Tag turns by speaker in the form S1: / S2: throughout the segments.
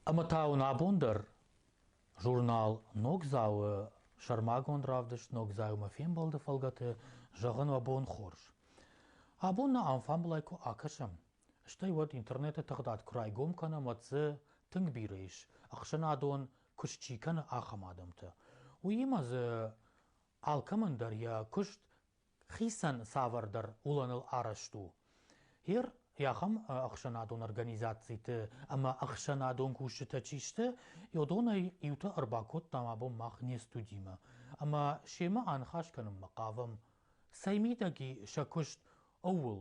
S1: Ӕмӕ та уын абон дӕр журнал Ногдзау-ы сӕрмагонд равдыст Ногдзау-мӕ фембӕлды фӕлгӕты зӕгъын уӕ бон хорз. Абон нӕ ам фӕмбылай куы акӕсӕм, стӕй уӕд интернеты тыгъдад куы райгом кӕнӕм, уӕд дзы тынг бирӕ ис, ӕхсӕнадон куыст чи кӕны, ахӕм адӕмтӕ. Уыимӕ дзы алкӕмӕн дӕр йӕ куыст хицӕн цавӕрдӕр уылӕныл арӕзт у. Гъер ахӕм ӕхсӕнадон организациты ӕмӕ ӕхсӕнадон кусджытӕ чи сты, уыдонӕй иутӕ ӕрбакодтам абон мах не студимӕ. Ӕмӕ семӕ аныхас кӕнынмӕ хъавӕм, цӕй мидӕги сӕ куыст ууыл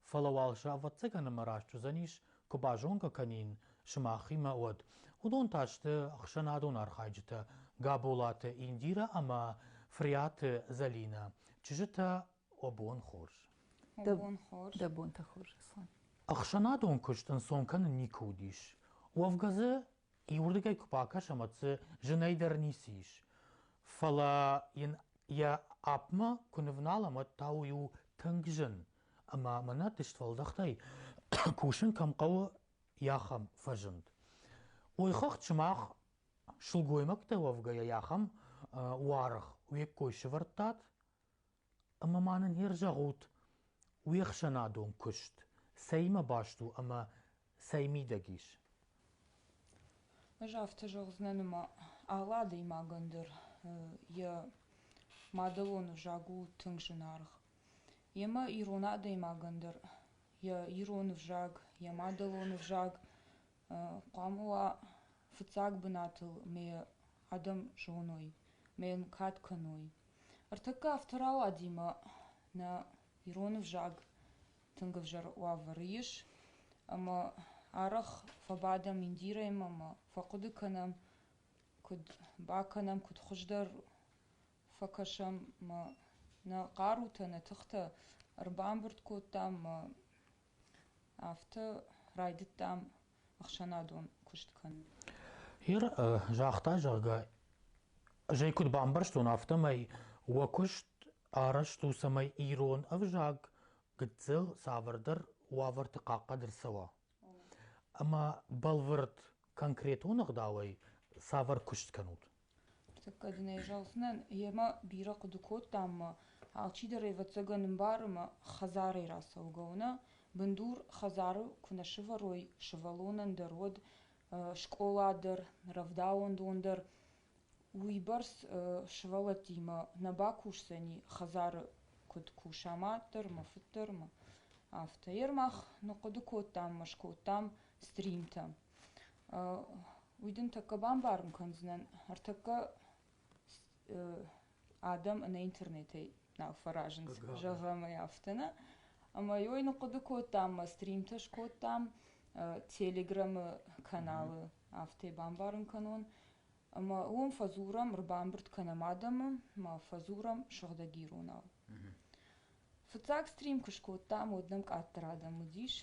S1: фӕлӕ уал сӕ ӕвӕццӕгӕн ӕмӕ раст уыдзӕнис, куы базонгӕ кӕнин сымахимӕ, уӕд. Уыдон та сты ӕхсӕнадон архайджытӕ Габолаты Индирӕ ӕмӕ Фриаты Зӕлинӕ, чызджытӕ О бон хорз. Дӕ бон хорз.
S2: Дӕ бонтӕ хорз, Аслан. Ӕхсӕнадон
S1: куыст ӕнцон кӕнын никуы уыдис. Уӕвгӕ дзы Иуырдыгӕй куы бакӕсӕм, уӕд дзы зынӕй дӕр ницы ис. Фӕлӕ йын йӕ апмӕ куы нывналӕм, уӕд та уый у тынг зын. Ӕмӕ мӕнӕ дыстуӕлдӕхтӕй кусын кӕм хъӕуы, ахӕм фӕзынд. Ойхыгъд сымах сылгоймӕгтӕ уӕвгӕйӕ ахӕм уаргъ уе ккой сывӕрдтат? Ӕмӕ ма нын не рзӕгъут уе хсӕнадон куыст, цӕимӕ баст у ӕмӕ цӕй мидӕг ис?
S3: Ӕз афтӕ зӕгъдзынӕн ӕмӕ алы адӕймагӕн дӕр йӕ мадӕлон ӕвзаг у тынг зынаргъ. Йемӕ ирон адӕймагӕн дӕр йӕ ирон ӕвзаг, йӕ мадӕлон ӕвзаг хъуамӕ уа фыццаг бынатыл ӕмӕ йӕ адӕм зоной ӕмӕ йын кад кӕной. Ӕртӕккӕ афтӕ рауадимӕ нӕ ирон ӕвзаг тынг ӕвзӕр уавӕры ис, ӕмӕ арӕх фӕбадӕм индирӕймӕ ӕмӕ фӕхъуыды кӕнӕм, куыд бакӕнӕм, куыд хуыздӕр фӕкӕсӕм ӕмӕ нӕ хъарутӕ, нӕ тыхтӕ ӕрбамбырд кодтам ӕмӕ афтӕ райдыдтам ӕхсӕнадон куыст кӕнын. Ир
S1: загъта, зӕгъгӕ, зӕй куыд бамбӕрстон, афтӕмӕй уӕ куыст арӕзт у, цӕмӕй ирон ӕвзаг гыццыл цавӕрдӕр уавӕрты хъахъхъӕд ӕрцӕуа. Ӕмӕ бӕлвырд, конкретон ӕгъдауӕй цавӕр куыст кӕнут? Ныртӕккӕ дын ӕй
S3: зӕгъдзынӕн, йемӕ бирӕ хъуыды кодтам ӕмӕ алчидӕр, ӕвӕццӕгӕн, ӕмбары ӕмӕ хӕдзарӕй рацӕугӕ у нӕ бындур, хӕдзары куы нӕ сывӕрой сывӕллонӕн дӕр, уӕд скъола дӕр, рӕвдауӕндон дӕр, уыйбӕрц сывӕллӕттимӕ нӕ бакусдзӕни хӕдзары куыд куса мад дӕр ӕмӕ фыд дӕр ӕмӕ афтӕ. Йе рмӕг ныхъхъуыды кодтам ӕмӕ скодтам стримтӕ. Уый дын тӕккӕ бамбарын кӕндзынӕн, ӕртӕккӕ адӕм ӕнӕ интернетӕй нал фӕразынц, зӕгъӕм ӕй афтӕ нӕ. Ӕмӕ ой ныхъхъуыды кодтам ӕмӕ стримтӕ скодтам Телеграмы каналы, афтӕ бамбарын кӕнон. Ӕмӕ уым фӕдзурӕм, ӕрбамбырд кӕнӕм адӕмы, ма фӕдзурӕм сыгъдӕг иронау. Фыццаг стрим куы скодтам, уӕд нӕм къаддӕр адӕм уыдис,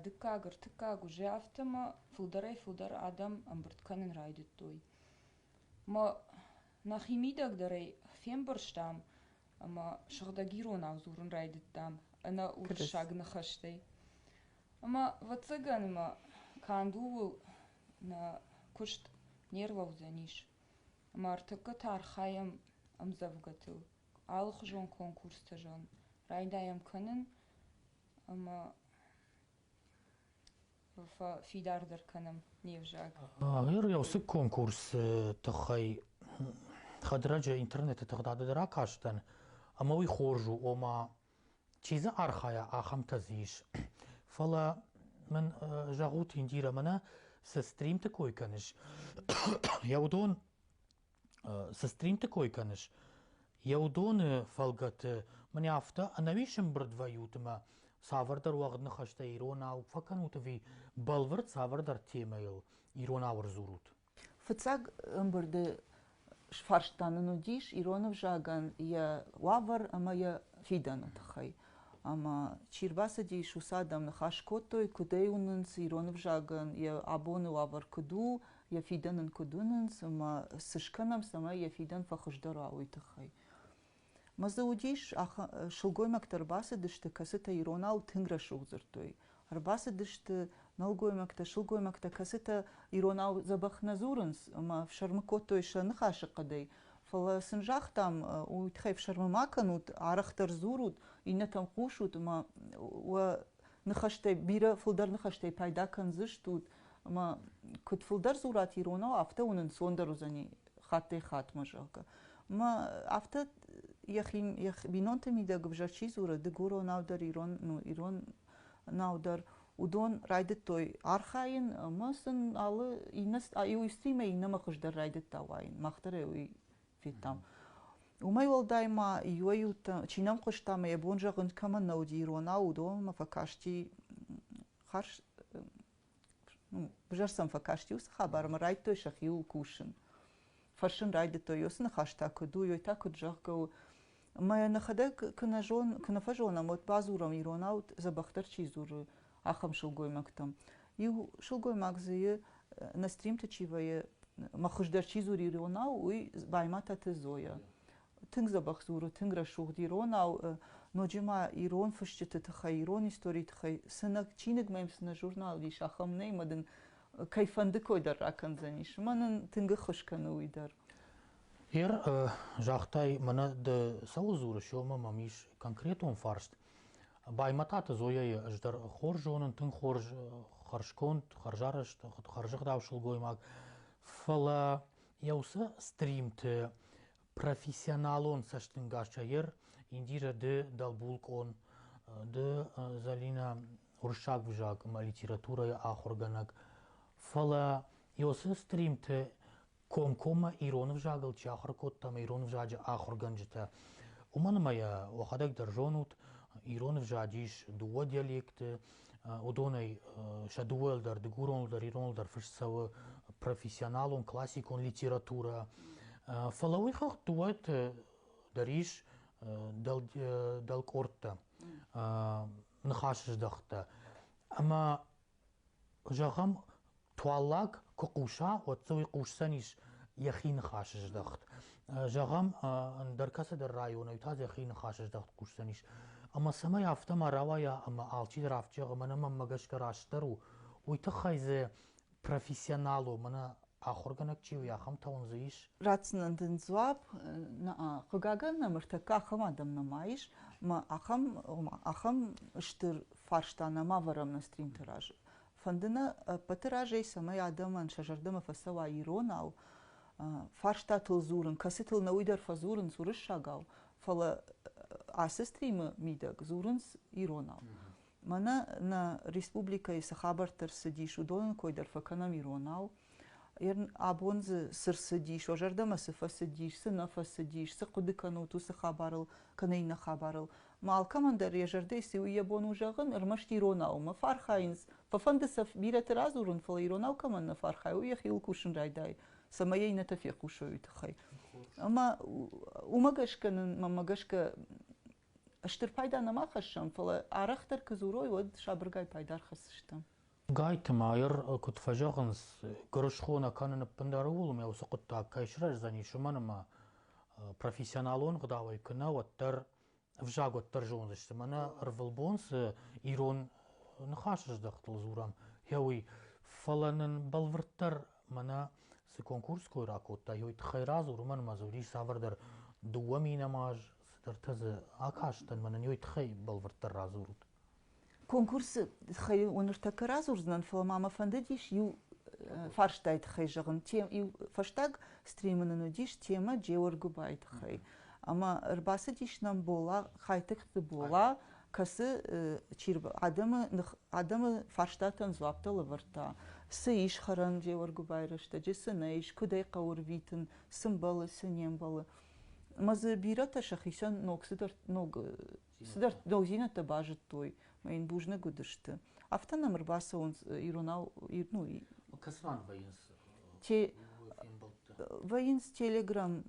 S3: Дыккаг ӕртыккаг уызы афтӕ мӕ фылдӕрӕй фылдӕр адӕм ӕмбырд кӕнын райдыдтой. Мӕ нӕхимидӕгдӕрӕй фембӕрстам ӕмӕ сыгъдӕг иронау дзурын райдыдтам ӕнӕ уырыссаг ныхӕстӕй. Ӕмӕ, ӕвӕццӕгӕн мӕ канд ууыл нӕ куыст не рлӕудзӕнис. Ӕмӕ ӕртӕккӕ та архайӕм ӕмдзӕвгӕтыл, алыхуызон конкурстӕ зӕгъын, райдайӕм кӕнын ӕмӕ фидардӕр кӕнӕм не взаг. Ир уыцы
S1: конкурсы тыххӕй хӕдрӕджы интернеты тыгъдады ракастӕн, ӕмӕ уый хорз у, ома чи дзы архайа, ахӕмтӕ дзы ис. Фӕлӕ мын зӕгъут, Индирӕ, мӕнӕ цы стримты кой кӕныс, йӕ уыдон Цы стринты кой кӕныс? Йӕ уыдоны фӕлгӕты мын афтӕ ӕнӕуис ӕмбырд вӕййут ӕмӕ цавӕрдӕр уӕгъд ныхӕстӕ иронау фӕкӕнут ӕви бӕлвырд цавӕрдӕр темӕйыл иронау ӕрдзурут? Фыццаг
S2: ӕмбырды сфарст та нын уыдис ирон ӕвзагӕн йӕ уавӕр ӕмӕ йӕ фидӕны тыххӕй. Ӕмӕ чи рбацыдис, уыцы адӕм ныхас кодтой, куыд ӕй уынынц ирон ӕвзагӕн йӕ абоны уавӕр куыд у йӕ фидӕн ын куыд уынынц ӕмӕ цы скӕнӕм, цӕмӕй йӕ фидӕн фӕхуыздӕр уа, уый тыххӕй. Мӕ дзы уыдис, сылгоймӕгтӕ ӕрбацыдысты, кӕцытӕ иронау тынг рӕсугъд дзырдтой. Ӕрбацыдысты нӕлгоймӕгтӕ, сылгоймӕгтӕ, кӕцытӕ иронау дзӕбӕх нӕ дзурынц ӕмӕ фсӕрмы кодтой сӕ ныхасы хъӕдӕй. Фӕлӕ сын загътам, уый тыххӕй фсӕрмы ма кӕнут, арӕхдӕр дзурут, иннӕтӕм хъусут, ӕмӕ уӕ ныхӕстӕй, бирӕ фылдӕр ныхӕстӕй пайда кӕндзыстут, ӕмӕ куыд фылдӕр дзурат иронау, афтӕ уын ӕнцондӕр уыдзӕни хаттӕй-хаттмӕ, зӕгъгӕ. Ӕмӕ афтӕ йӕхи йӕ бинонты мидӕг ӕвзӕр чи дзуры, дыгуронау дӕр, ирон, ну, иронау дӕр, уыдон райдыдтой архайын, ӕмӕ сын алы иннӕ иу истыимӕ иннӕмӕ хуыздӕр райдыдта уайын. Мах дӕр уый федтам. Уымӕй уӕлдай ма иуӕй-иутӕ чи нӕм хъуыста ӕмӕ йӕ бон зӕгъын кӕмӕн нӕ уыди иронау, уыдонмӕ фӕкасти хӕрз взӕр сӕм фӕкасти уыцы хабар ӕмӕ райдтой сӕхиуыл кусын. Фӕрсын райдыдтой, уыцы ныхас та куыд у, ёй та куыд зӕгъгӕ у. Мӕ нӕхӕдӕг куы нӕ зон, куы нӕ фӕзонӕм, уӕд бадзурӕм иронау, дзӕбӕхдӕр чи дзуры, ахӕм сылгоймӕгтӕм. Иу сылгоймаг зыйы, нӕ стримты чи вӕййы, мӕ хуыздӕр чи дзуры иронау, уый Баймӕтаты Зойӕ. Тынг дзӕбӕх дзуры, тынг рӕсугъд иронау, ноджы ма ирон фысджыты тыххӕй, ирон историйы тыххӕй сынӕг, чиныг мӕм цынӕ журнал ис, ахӕм нӕй, мӕ дын кӕй фӕнды кой дӕр ракӕндзӕнис. Мӕн ын тынг ӕххуыс кӕны уый дӕр. Ер,
S1: загътай, мӕнӕ ды цӕуыл дзурыс, омӕ мӕм ис конкретон фарст. Баймӕтаты Зояйы ӕз дӕр хорз зонын, тынг хорз хӕрзконд, хӕрзарӕзт, хӕрзӕгъдау сылгоймаг. Фӕлӕ йӕ уыцы стримты профессионалон цӕстӕнгасӕй ер Индирӕ ды дӕлбулкъон, ды Зӕлинӕ уырыссаг ӕвзаг ӕмӕ литературӕйы ахуыргӕнӕг. Фӕлӕ йӕ уыцы стримты комкоммӕ ирон ӕвзагыл чи ахуыр кодта ӕмӕ ирон ӕвзаджы ахуыргӕнджытӕ, уымӕн ӕмӕ йӕ уӕхӕдӕг дӕр зонут, ирон ӕвзаг ис дыууӕ диалектты, уыдонӕй сӕ дыууӕйыл дӕр, дыгуроныл дӕр, ироныл дӕр фыст цӕуы профессионалон, классикон литературӕ. Фӕлӕ уый хыгъд дыууӕты дӕр ис дӕлкъордтӕ, ныхасыздӕхтӕ. Ӕмӕ Зӕгъӕм, туаллаг куы хъуса, уӕд дзы уый хъусдзӕнис йӕхи ныхасы здӕхт. Зӕгъӕм, ӕндӕр кӕцыдӕр районӕй та йӕхи ныхасы здӕхт хъусдзӕнис. Ӕмӕ цӕмӕй афтӕ ма рауайа ӕмӕ алчидӕр афтӕ зӕгъа, мӕнӕ мӕнмӕ гӕсгӕ растдӕр у, уый тыххӕй дзы профессионал у, мӕнӕ Ахуыргӕнӕг чи у, ахӕмтӕ уын дзы ис? Ратдзынӕн дын
S2: дзуапп, хъыгагӕн нӕм ӕртӕккӕ ахӕм адӕм нӕма ис, ӕмӕ ахӕм, ома ахӕм стыр фарста нӕма ӕвӕрӕм нӕ стримты разы. Фӕнды нӕ ӕппӕты разӕй, цӕмӕй адӕмӕн сӕ зӕрдӕмӕ фӕцӕуа иронау, фарстатыл дзурын, кӕцытыл нӕ уый дӕр фӕдзурынц уырыссагау, фӕлӕ ацы стримы мидӕг дзурынц иронау. Мӕнӕ нӕ республикӕйы цы хабӕрттӕ рцыдис, уыдонӕн кой дӕр фӕкӕнӕм иронау. Абон дзы цы рцыдис, уӕ зӕрдӕмӕ цы фӕцыдис, цы нӕ фӕцыдис, цы хъуыды кӕнут уыцы хабарыл кӕнӕ иннӕ хабарыл. Ма алкӕмӕн дӕр йӕ зӕрдӕйы цы у йӕ бон у зӕгъын, ӕрмӕст иронау ма фӕархайынц. Фӕфӕнды сӕ бирӕты радзурын, фӕлӕ иронау кӕмӕн нӕ фӕархайы, уый йӕхиуыл кусын райдайы, цӕмӕй иннӕтӕ фехъусой уый тыххӕй. Ӕмӕ уымӕ гӕсгӕ нын, мӕнмӕ гӕсгӕ, стыр пайда нӕма хӕссӕм, фӕлӕ арӕхдӕр куы дзурой, уӕд сабыргай пайда ӕрхӕсдзыстӕм. Гайты
S1: Майер куыд фӕзӕгъынц, гуырысхо нӕ кӕнын ӕппындӕр ууыл ӕмӕ уыцы хъуыддаг кӕй сырӕздзӕнис, уымӕн ӕмӕ профессионалон гъдауӕй куы нӕ, уӕддӕр ӕвзаг уӕддӕр зондзысты. Мӕнӕ ӕрвылбон цы ирон ныхасыздӕхтыл дзурӕм, йӕ уый. Фӕлӕ нын бӕлвырддӕр мӕнӕ цы конкурс кой ракодта, йой тыххӕй радзур, уымӕн ӕмӕ дзы уыдис цавӕрдӕр дыууӕ мин ӕмӕ аз Цыдӕртӕ дзы акастӕн, мӕнӕн уый тыххӕй бӕлвырддӕр радзурут. Конкурсы
S2: тыххӕй уын ныртӕккӕ радзурдзынӕн, фӕлӕ ма мӕ фӕндыдис иу фарстайы тыххӕй зӕгъын. Иу фӕстаг стримы нын уыдис темӕ Джеоргуыбайы тыххӕй. Ӕмӕ ӕрбацыдис нӕм Бола, Хайтыгты Бола, кӕцы адӕмы адӕмы фарстатӕн дзуапптӕ лӕвӕрдта. Цы ис хӕрӕн Джеоргуыбайы рӕстӕджы, цы нӕ ис, куыд ӕй хъӕуы рвитын, цы мбӕлы, цы не мбӕлы. Ӕмӕ дзы бирӕтӕ сӕхицӕн ног цыдӕр ног цыдӕр дӕудзинӕдтӕ базыдтой мӕ йын бузныг уыдысты. Афтӕ нӕм ӕрбацӕуынц иронау, ну, Кӕцыфӕнды
S1: вӕййынц те
S2: вӕййынц телеграм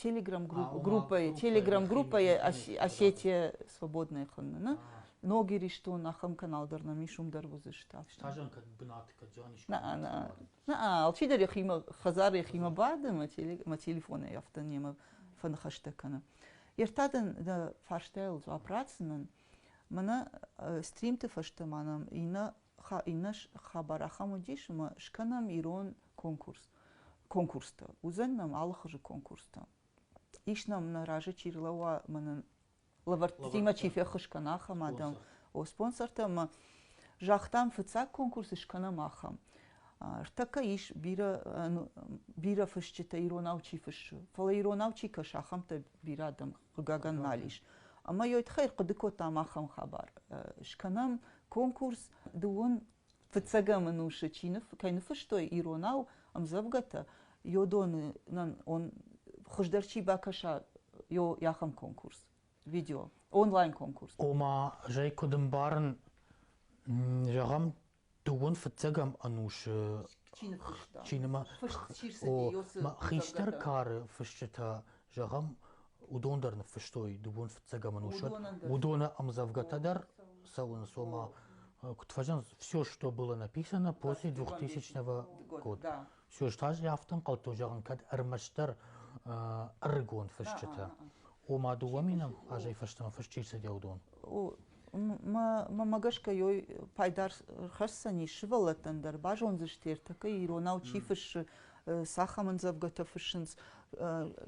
S2: телеграм группӕйы телеграм группӕйы осетия свободная хынны ног иристон ахӕм канал дӕр нӕм ис уым дӕр уыдзысты. Стажан кӕд бынаты
S1: кӕд зиан ис.
S2: Наа, алчидӕр йӕхимӕ, хӕдзар йӕхимӕ бады мӕ, теле, мӕ телефонӕй афтӕ немӕ фӕныхӕстӕ кӕны. Ертадӕн дӕ фарстайыл дзуапп ратдзынӕн. Мӕнӕ стримты фӕстӕ ма нӕм иннӕ, ха, иннӕ хабар ахӕм уыдис, ӕмӕ скӕнӕм ирон конкурс. Конкурстӕ. Уыдзӕн нӕм алыхуызы конкурстӕ. Ис нӕм нӕ разы чи рлӕууа, мӕнӕн лӕвӕрттимӕ чи феххуыс кӕна ахӕм адӕм, о спонсортӕ ӕмӕ загътам, фыццаг конкурс скӕнӕм ахӕм. Ӕртӕккӕ ис бирӕ бирӕ фысджытӕ иронау чи фыссы, фӕлӕ иронау чи кӕсы, ахӕмтӕ бирӕ адӕм, хъыгагӕн, нал ис. Ӕмӕ йӕ тыххӕй хъуыды кодтам ахӕм хабар. Скӕнӕм конкурс дыууын Фыццӕгӕм ӕнусы чи ныф, кӕй ныффыстой иронау ӕмдзӕвгӕтӕ, йодоны он хуыздӕр чи бакӕса йӕхӕм конкурс, видео, онлайн конкурс. Ома, зӕй
S1: куыд ӕмбарын, зӕгъӕм, дыууын фыццӕгӕм ӕнусы чинымӕ фыст чи рцыди, хистӕр кары фысджытӕ Зӕгъӕм, уыдон дӕр ныффыстой дыууын фыццаг ӕмӕнусад. Уыдоны ӕмдзӕвгӕтӕ дӕр цӕуынц, ома куыд фӕзӕнц все, что было написано после 2000 года. Все, что ӕз афтӕ ӕнхъӕлдтон, зӕгъын, кӕд ӕрмӕстдӕр ӕрыгон фысджытӕ. Ома дыууӕ минут азӕй фӕстӕмӕ фыст чи рцыдӕуыдон? мӕ
S2: гӕсгӕ йой пайда хӕсдзӕнис сывӕллӕттӕн дӕр, базондзысты ӕртӕкӕ иронау чи фыссы, цахӕмӕндзӕвгӕтӕ фыссынц,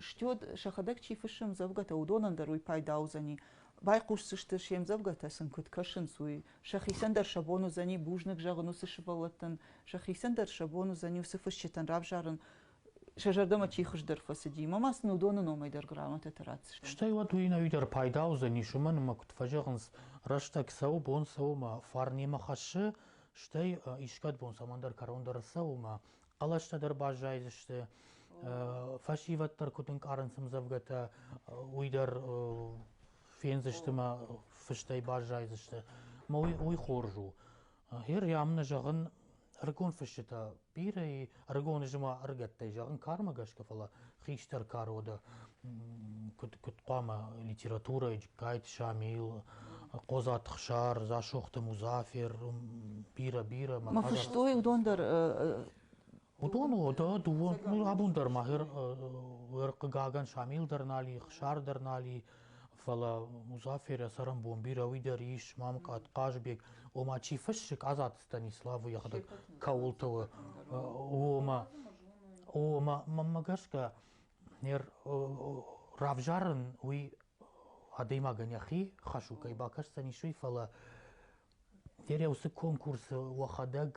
S2: стёд сӕхӕдӕг чи фыссы ӕмдзӕвгӕтӕ, уыдонӕн дӕр уый пайда уыдзӕни. Байхъусдзысты се мдзӕвгӕтӕ сын куыд кӕсынц, уый. Сӕхицӕн дӕр сӕ бон уыдзӕни бузныг зӕгъын уыцы сывӕллӕттӕн, сӕхицӕн дӕр сӕ бон уыдзӕни уыцы фысджытӕн равзарын сӕ зӕрдӕмӕ чи хуыздӕр фӕцыди, мӕ ма сын уыдоны номӕй дӕр грамотӕтӕ ратдзыстӕм. Стӕй уӕд уый-нӕуи дӕр
S1: пайда уыдзӕнис, уымӕн ӕмӕ куыд фӕзӕгъынц, рӕстӕг цӕуы, бон цӕуы ӕмӕ фарн немӕ хӕссы, стӕй искӕд бон цӕмӕндӕр кӕрондӕр ӕрцӕуы ӕмӕ хъӕлӕстӕ дӕр баззайдзысты, фӕсивӕд дӕр куыд ӕнкъарынц ӕмдзӕвгӕтӕ, уый дӕр фендзысты ӕмӕ фыстӕй баззайдзысты. Мӕ уый хорз у. Гъер ямӕ зӕгъын, ӕрыгон фысджытӕ бирӕ, ӕрыгон ызма ӕрыгӕттӕй зӕгъын кармӕ гӕсгӕ, фӕлӕ хистӕр кары уӕдӕ куыд куыд хъуамӕ литературӕйы Джыккайты Шамил, Хъодзаты Хсар, Дзасохты Музафер, бирӕ-бирӕ. Мӕ фыстой
S2: уыдон дӕр Уыдон
S1: уӕдӕ дыууӕ абон дӕр ма хъыгагӕн Шамил дӕр нал и, Хсар дӕр нал и, фӕлӕ Музафер цӕрӕнбон бирӕ уый дӕр ис, Мамкъат, Хъазбег, ома чи фыссык Азат Станиславы йӕхӕдӕг кӕуылты у, омӕ омӕ мӕнмӕ гӕсгӕ нер равзарын уый адӕймагӕн йӕхи хӕсукӕй бакӕсдзӕнис уый, фӕлӕ нер уыцы конкурсы уӕхӕдӕг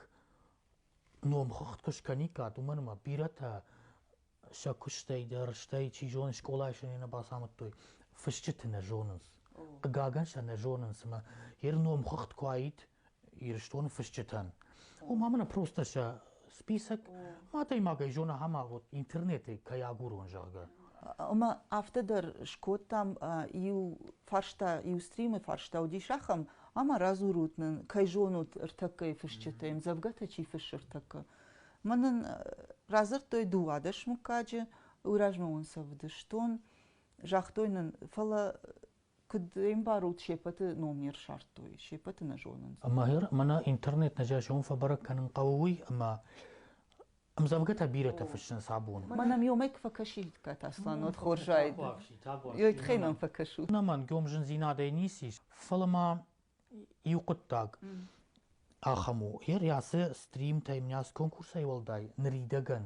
S1: номхыгъд куы скӕниккат, уымӕн ӕмӕ бирӕтӕ сӕ куыстӕй дӕр, стӕй, чи зоны, скъолайы сӕ нӕ бацамыдтой, фысджыты нӕ зонынц. Хъыгагӕн сӕ нӕ зонынц, ӕмӕ йе номхыгъд куы уаид Ирыстоны фысджытӕн, уым ӕмӕ просто сӕ список адӕймагӕй зона ахӕм агъуд, интернеты кӕй агурон, зӕгъгӕ. Ӕмӕ
S2: афтӕ дӕр скодтам, иу фарста, иу стримы фарста уыдис ахӕм, Ӕмӕ радзурут нын, кӕй зонут ӕртӕккӕйы фысджытӕй, дзӕвгӕтӕ чи фыссы ӕртӕккӕ. Мӕн нын радзырдтой дыууадӕс мыггаджы, уый размӕ уын сӕ вдыстон, загътой нын, фӕлӕ куыд ӕмбарут, сеппӕты ном не рсардтой, сеппӕты нӕ зонынц. Мӕхӕр мӕнӕ
S1: интернет нӕ зӕгъон фӕбӕрӕг кӕнын хъӕуы уый, ӕмӕ Ӕмдзӕвгӕтӕ бирӕтӕ фыссынц абоны. Мӕнӕ ӕмӕ куы фӕкӕсид
S2: Катаслан, уӕд хорзаид. Йой тыххӕй мӕм фӕкӕсут. Ӕнӕмӕнг ӕм зындзинадӕй
S1: ницы ис, фӕлӕ ма иу хъуыддаг ахӕм у. Ер йацы стримтӕй мын ацы конкурсӕй уӕлдай ныридӕгӕн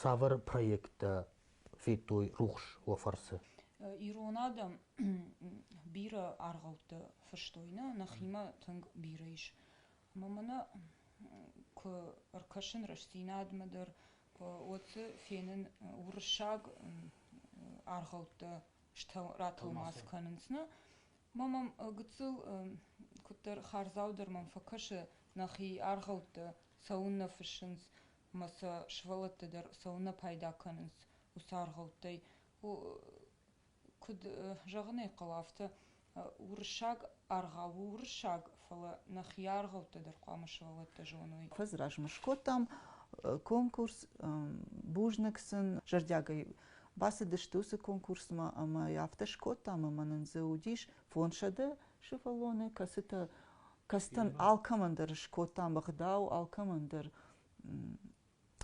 S1: цавӕр проекттӕ федтой рухс уӕ фӕрцы? Ирон адӕм
S3: бирӕ аргъӕуттӕ фыстой нӕ, нӕхимӕ тынг бирӕ ис. Мамӕ куы ӕркӕсын рӕстдзинадмӕ дӕр, уӕд дзы фенын уырыссаг аргъӕуттӕ ратӕлмац кӕнынц. Нӕ мӕ мӕм гыццыл куыддӕр хардзау дӕр мӕм фӕкӕсы, нӕхи аргъӕуттӕ цӕуыннӕ фыссынц ӕмӕ сӕ сывӕллӕттӕ дӕр цӕуыннӕ пайда кӕнынц уыцы аргъӕуттӕй. Куыд зӕгъын ӕй хъӕуы, афтӕ уырыссаг аргъау у уырыссаг, фӕлӕ нӕхи аргъӕуттӕ дӕр хъуамӕ сывӕллӕттӕ зоной. Куыдз размӕ скодтам
S2: конкурс, бузныг сын зӕрдиагӕй бацыдысты уыцы конкурсмӕ ӕмӕ афтӕ скодтам ӕмӕ нын дзы уыдис фондзсӕдӕ сывӕллоны, кӕцытӕ кӕцытӕн алкӕмӕн дӕр скодтам ӕгъдау, алкӕмӕн дӕр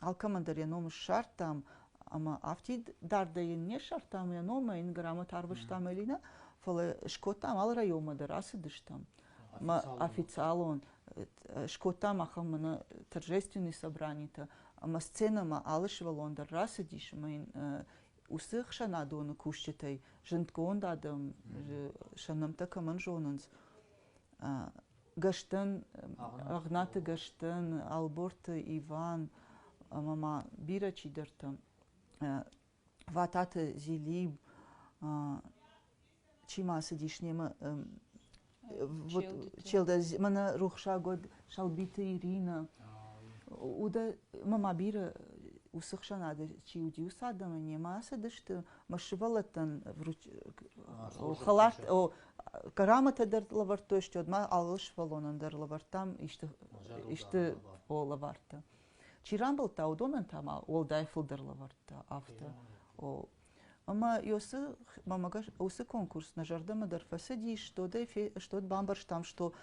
S2: алкӕмӕн дӕр йӕ ном ссардтам ӕмӕ афтид дардӕй йын не ссардтам йӕ номӕй йын грамота арвыстам ӕви нӕ фӕлӕ скодтам алы районмӕ дӕр ацыдыстӕм официалон скодтам ахӕм мӕнӕ торжественные собранитӕ ӕмӕ сценӕмӕ алы сывӕллон дӕр рацыдис ӕмӕ йын уыцы хсӕнадоны кусджытӕй зындгонд адӕм сӕ нӕмттӕ кӕмӕн зонынц гӕстӕн, Ӕгънаты гӕстӕн, Ӕлборты Иван ӕмӕ ма бирӕ чидӕртӕ, Вататы Зелиб, чи ма цыдис немӕ вот Челдӕ мӕнӕ рухсаг уӕд Салбиты Иринӕ удӕ ӕмӕ ма бирӕ уыцы хсӕнады чи уыди уыцы адӕмы немӕ ацыдысты мӕ сывӕллӕттӕн хӕлат грамотӕ дӕр лӕвӕрдтой, стӕй ма алы сывӕллонӕн дӕр лӕвӕрдтам исты исты лӕвӕрттӕ. Чи рамбылдта, уыдонӕн та ма уӕлдай фылдӕр лӕвӕрттӕ афтӕ. Ӕмӕ уыцы уыцы конкурс нӕ зӕрдӕмӕ дӕр фӕцыдис, стот бамбӕрстам, что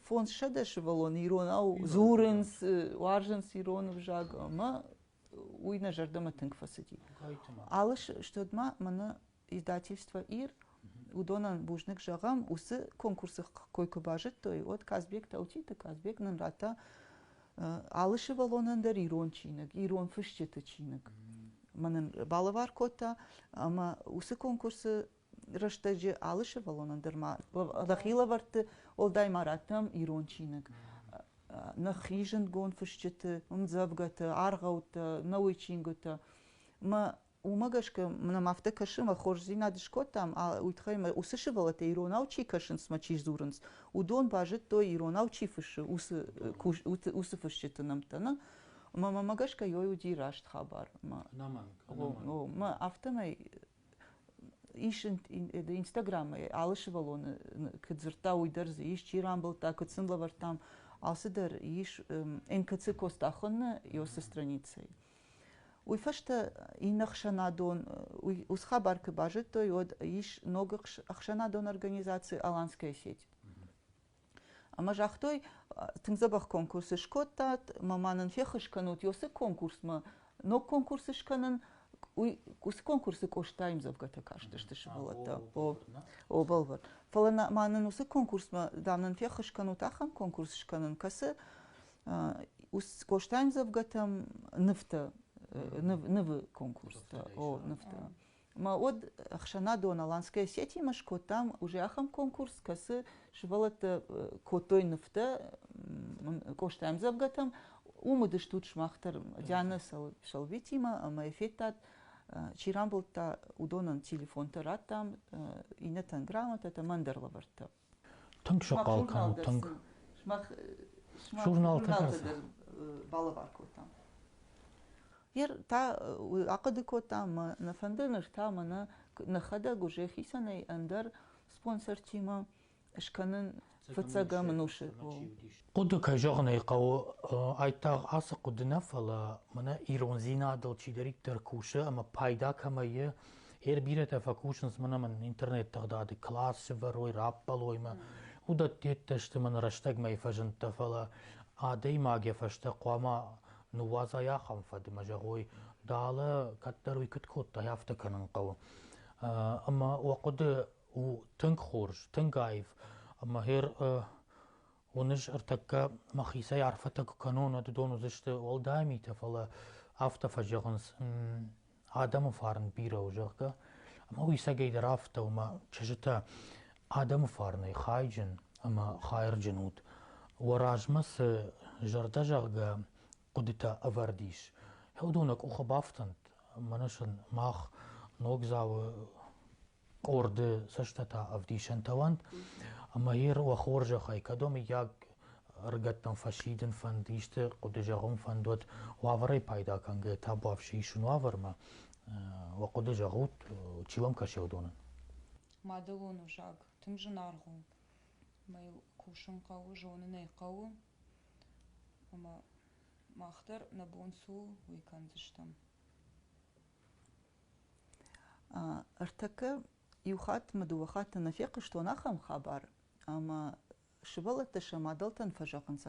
S2: фондзсӕдӕс сывӕллон иронау дзурынц, уарзынц ирон ӕвзаг, ӕмӕ уый нӕ зӕрдӕмӕ тынг фӕцыди. Алы стот ма мӕнӕ издательство ир уыдонӕн бузныг зӕгъӕм уыцы конкурсы кой куы базыдтой уӕд казбек таутиты казбек нын радта алы сывӕллонӕн дӕр ирон чиныг ирон фысджыты чиныг мӕнӕн балӕвар кодта ӕмӕ уыцы конкурсы рӕстӕджы алы сывӕллонӕн дӕр ма дӕхи лӕвӕртты уӕлдай ма радтӕм ирон чиныг нӕхи зындгонд фысджыты ӕмдзӕвгӕтӕ аргъӕуттӕ нӕуый чингуытӕ мӕ Уымӕ гӕсгӕ нӕм афтӕ кӕсы, мӕ хорздзинад скодтам, уый тыххӕй мӕ уыцы сывӕллӕттӕ иронау чи кӕсынц мӕ чи дзурынц, уыдон базыдтой, иронау чи фыссы, уыцы уыцы фысджыты нӕмттӕ нӕ. Мӕ мӕмӕ гӕсгӕ йой уыди раст хабар. Ӕнӕмӕнг. Мӕ афтӕмӕй ис инстаграммӕ алы сывӕллоны куыд дзырдта, уый дӕр дзы ис, чи рамбылдта, куыд сын лӕвӕрдтам, алцыдӕр ис. НКЦ Костахоны Ёсы страницӕйы Уый фӕстӕ иннӕ ӕхсӕнадон, уый Усхабар куы базыдтой, уӕд ис ног ӕхсӕнадон организаци Аланская сеть. Ӕмӕ загътой, тынг дзӕбӕх конкурс скодтат, мӕ нын феххуыс кӕнут уыцы конкурсмӕ. Ног конкурс скӕнын, уый уыцы конкурсы Къостайым дзӕвгӕтӕ кастысты сывӕллӕттӕ. О, бӕлвырд. Фӕлӕ ма нын уыцы конкурсмӕ, дам, нын феххуыс кӕнут ахӕм конкурс скӕнын, кӕцы Костӕмдзӕвгӕтӕм нывтӕ, нывы конкурстӕ, о, нывтӕ. Ӕмӕ уӕд ӕхсӕнадон Аланская сеть-имӕ скодтам уже ахӕм конкурс, кӕцы сывӕллӕттӕ кодтой нывтӕ Костӕмдзӕвгӕтӕм. Уым уыдыстут сымах дӕр Диана Шалвитимӕ ӕмӕ федтат чи рамбылдта, уыдонӕн телефонтӕ радтам, иннӕтӕн грамотӕтӕ, мӕн дӕр лӕвӕрттӕ. Тынг
S1: сыхъал кӕнут, тынг. Журналты дӕр балӕвар кодтам. Ер та уый ахъуыды кодта ӕмӕ нӕ фӕнды ныр та мӕнӕ нӕхӕдӕг уже хицӕнӕй ӕндӕр спонсортимӕ скӕнын фыццӕгӕм ӕнусы Хъуыды, кӕй зӕгъын ӕй хъӕуы, айдагъ ацы хъуыды нӕ, фӕлӕ мӕнӕ ирондзинадыл чидӕриддӕр кусы ӕмӕ пайда кӕмӕй и, ӕр бирӕтӕ фӕкусынц мӕн ӕмӕ интернет тыгъдады класс сывӕрой, раппӕлой мӕ. Уыдӕттӕ йедтӕ сты мӕн рӕстӕгмӕйы фӕзындтӕ, фӕлӕ адӕймаг йӕ фӕстӕ хъуамӕ ныууадзай ахӕм фӕдмӕ, зӕгъой, дӕлӕ, кӕддӕр уый куыд кодтай, афтӕ кӕнын хъӕуы. Ӕмӕ уӕ хъуыды у тынг хорз, тынг аив ӕмӕ ӕр Уыныс, ӕртӕккӕ мӕхицӕй арфӕтӕ куы кӕнон, уӕд уыдон уыдзысты уӕлдай митӕ, фӕлӕ афтӕ фӕзӕгъынц, адӕмы фарн бирӕ у, зӕгъгӕ. Ӕмӕ уисӕгӕй дӕр афтӕ, ома чызджытӕ, адӕмы фарнӕй хайджын ӕмӕ хайырджын ут. Уӕ размӕ цы зӕрдӕ, зӕгъгӕ, хъуыдытӕ ӕвӕрд ис. Хӕдоны къухы бафтӕнт, мӕнӕ сын мах Ногдзауы къорды цӕстытӕ ӕвдисӕнтӕ уӕнт, ӕмӕ ир уӕ хорзӕхӕй, кӕдӕм мыййаг ӕрыгӕттӕм фӕсидын фӕнд, исты хъуыды зӕгъын фӕнд уӕд, уавӕрӕй пайда кӕнгӕ табуафси исун уавӕрмӕ, уӕ хъуыды зӕгъут, чи уӕм кӕсы уыдонӕн? Мадӕлон
S3: узаг тынг зынаргъ у, ӕмӕ йыл кусын хъӕуы, зонын ӕй хъӕуы, ӕмӕ мах дӕр нӕ бон цы у уый кӕндзыстӕм
S2: ӕртӕкӕ иу хатт мӕ дыууӕ хатты нӕ фехъуыстон ахӕм хабар ӕмӕ сывӕллӕттӕ сӕ мадӕлтӕн фӕзӕгъынц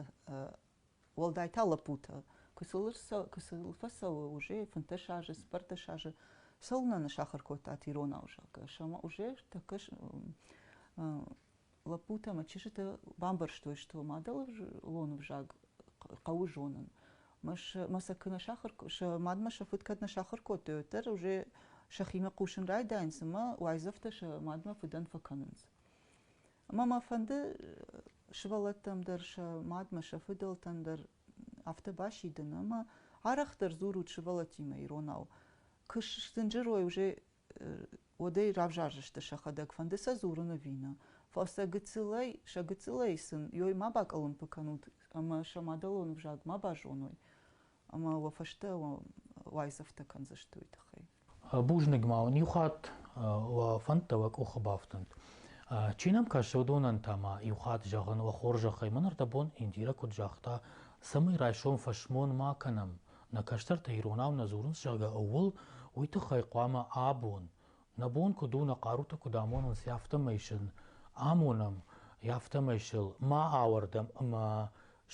S2: уӕлдай та лӕппутӕ куы сыл фӕцӕуы уже фынддӕс азы цыппӕрдӕс азы цӕуылнӕ не сахуыр кодтат иронау зӕгъгӕ сӕ ма уже тӕккӕ лӕппутӕ ӕмӕ чызджытӕ бамбӕрстой, что мадӕлон ӕвзаг хъӕуы зонын. Мӕ, мӕ сӕ куы нӕ сахар, сӕ мадмӕ сӕ фыд кӕд нӕ сахар кодтой, уӕддӕр уже сӕхимӕ хъусын райдайынц ӕмӕ уайдзӕфтӕ сӕ мадмӕ фыдӕн фӕкӕнынц. Ӕмӕ мӕ фӕнды сывӕллӕттӕм дӕр, сӕ мадмӕ, сӕ фыдӕлтӕн дӕр афтӕ басидын ӕмӕ арӕхдӕр дзурут сывӕллӕттимӕ иронау. Куы сдзынджырой уже уӕдӕй равзардзысты сӕхӕдӕг, фӕнды сӕ дзурын ӕви нӕ. Фӕлӕ сӕ гыццылӕй, сӕ гыццылӕй сын ой ма бакъӕлӕмпы кӕнут ӕмӕ сӕ мадӕлон ӕвзаг ма базоной, ӕмӕ уӕ фӕстӕ уайдзӕфтӕ кӕндзысты уый тыххӕй. Бузныг ма
S1: уын иу хатт, уӕ фӕндтӕ уӕ къухы бафтынт. Чи нӕм кӕсы, уыдонӕн та ма иу хатт зӕгъын, уӕ хорзӕхӕй, мӕн ӕрдӕбон Индирӕ куыд загъта, цӕмӕй райсом фӕсмон ма кӕнӕм, нӕ кӕстӕртӕ иронау нӕ дзурынц, зӕгъгӕ, ууыл, уый тыххӕй хъуамӕ абон, нӕ бон куыд у нӕ хъарутӕ куыд амонын, сӕ афтӕмӕй сын амонӕм, афтӕмӕй сыл ма ауӕрдӕм ӕмӕ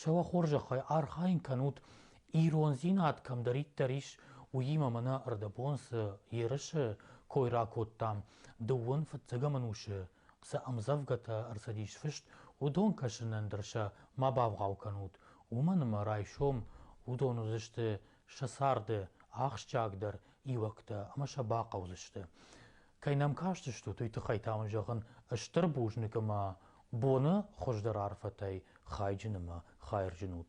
S1: сӕ уӕ хорзӕхӕй архайын кӕнут, ирондзинад кӕмдӕриддӕр ис, уыимӕ мӕнӕ ӕрдӕбон цы ерысы кой ракодтам, дыууын фыццӕгӕм ӕнусы цы ӕмдзӕвгӕтӕ ӕрцыдис фыст, уыдон кӕсынӕн дӕр сӕ ма бавгъау кӕнут, уымӕн ӕмӕ райсом уыдон уыдзысты сӕ царды ахсджиагдӕр иуӕгтӕ ӕмӕ сӕ бахъӕудзысты. Кӕй нӕм кастыстут, уый тыххӕй та мын зӕгъын стыр бузныг ӕмӕ боны хуыздӕр арфӕтӕй хайджын ӕмӕ хайырджын ут.